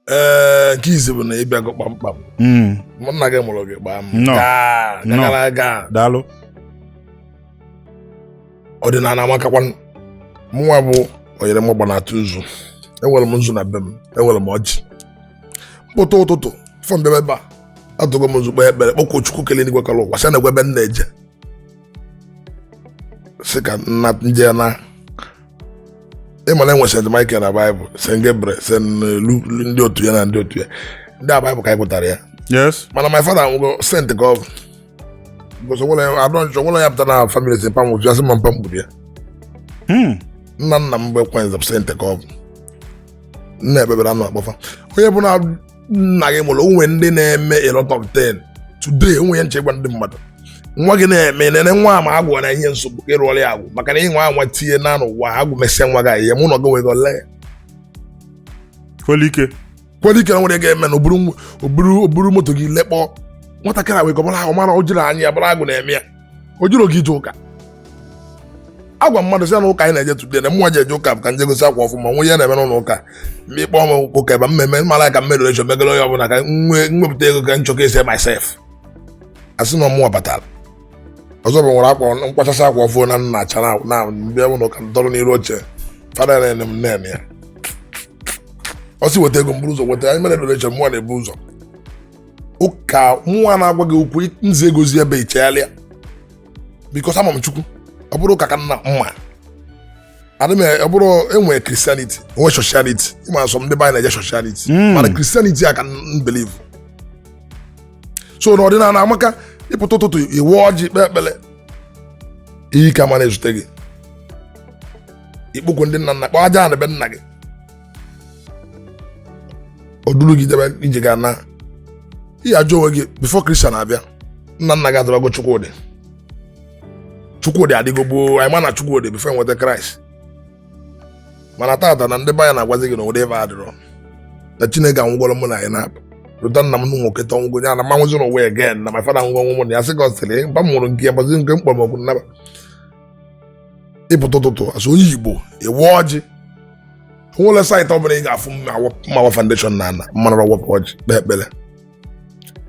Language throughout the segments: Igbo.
ee nke izi bụ na ị bịago kpamkpam Mm, mụ nna gị mụrụ gị gbaa m Nnọọ. gaa Nnọọ. gara aga daalụ ọdịnala amakakwa mụnwa bụ onyere m ọgba na-atụ nzu enwere m nzu na be m enwere m ọjị m pụta ụtụtụ before m bịa ebe a atụgo m nzu kpee ekpere kpọkuo chukwu kele n'igwe kele ụwa sị nekwa ebe m na-eje sị ka nna nje na ị ma na e nwe St. Michael na Baịbụl St. Gabriel St. Lu- Lu- ndị otu ya na ndị otu ya ndị a Baịbụl ka anyị gụtara ya yes mana my father nwụgo saint ka ọ bụ because onwere ya adọ nchọ onwere ya pụta na family si pam otu ya sị ma mpa mkpuru ya Hmm. nna nna m bụ ekwenze bụ saint ka ọ bụ nna ekpebere anụ akpọfa onye bụ na nna gị mụrụ o nwe ndị na-eme a lot of things today o nwe ihe nche gwa ndị mmadụ nwa gị na-eme nene nwa ma agwụ na ihe nsogbu ịrụọrọ ya agwụ maka na ị nwe nwa tinye na n'ụwa agwụ mesịa nwa gị ihe mụ na gị nwego ole kwelike kwelike na nwere ga-eme na o buru moto gị lekpọọ nwatakịrị wee gọbara ahụ mara o jiri anya ya bụrụ agwụ na-eme ya o jiri oge ije ụka agwa mmadụ si na ụka anyị na-eje today na mụnwa ji eje ụka bụ ka m je gosi akwa ọfụụ m nwe ihe na-eme n'ụlọ ụka ma ịkpọ m ụka ebe mmemme mara ka m mere echo megara onye ọbụla ka m wepụta ego ka m showcase myself asị na ọ mụwa batara ọzọ bụ m were akwa m kwachasị akwa ọfụma na nna acha na- na m bịa ụlọ ụka nọrọ n'iru oche fada na-ene m anya ọ sị weta ego m buru ụzọ weta anyị mere donation mụnwa na-ebu ụzọ ụka mụnwa na-agwa gị okwu nze egozi ebe ichegharịa because ama m chukwu ọ bụrụ ụka ka nna mma adị m ọ bụrụ enwere Christianity e nwee sociality ị ma some ndị be anyị na-eje sociality hmm. mana Christianity a ka m believe so na ọdịnala amaka ị pụta ụtụtụ ị wee ọjị kpee ekpere ihe ike ama na-ezute gị ị kpọkuo ndị nna nna kpọọ aja ana be nna gị o duru gị jebe ije ga na ihe ajụ onwe gị before Christian abịa nna nna gị adịbago chukwu dị chukwu adịgo gboo anyị ma na chukwu dị before enweta kraịst mana tata na ndị be anyị na-agwazi gị na ụdị ebe a adịrọ na chineke anwụgoro mụ na anyị na-apụ rụta nna m nụ nwoke tọ ngwo ya na m ma nwụzi n'ụwa again na my father nwụgo ọnwụ mụ na ya sị ka ọ sịrị mba m nwụrụ nke ya gbazi nke mkpọrọ m okwu nnaba ị pụta ụtụtụ as onye igbo ị waa ọjị onwerọ saịtị ọ bụla ị ga-afụ ma awa foundation na ana ma anarọ awapụ ọjị kpee ekpere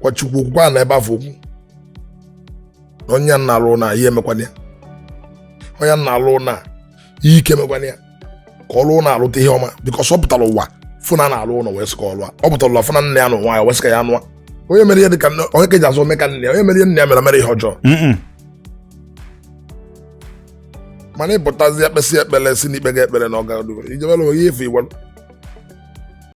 gwa chukwu okwu gwa ana ebe afụ okwu onye na-alụ na ihe emekwana ya onye na-alụ na ihe ike emekwana ya ka ọ lụọ ụlọ alụta ihe ọma because ọ pụtara ụwa fụ na a na-alụ ụlọ wee sị ka ọ lụa ọ pụtara ụwa fụ na nne ya na ụwa ya wee sị ka ya nụa onye mere ihe dị ka nne onye ka eji azụ ome ka nne ya onye mere ihe nne ya mere mere ihe ọjọọ Mm-mm. mana ị pụtazi ekpesị ekpere si n'ikpe gị ekpere na ọ ga-adụ ijebere onwe gị ife igwe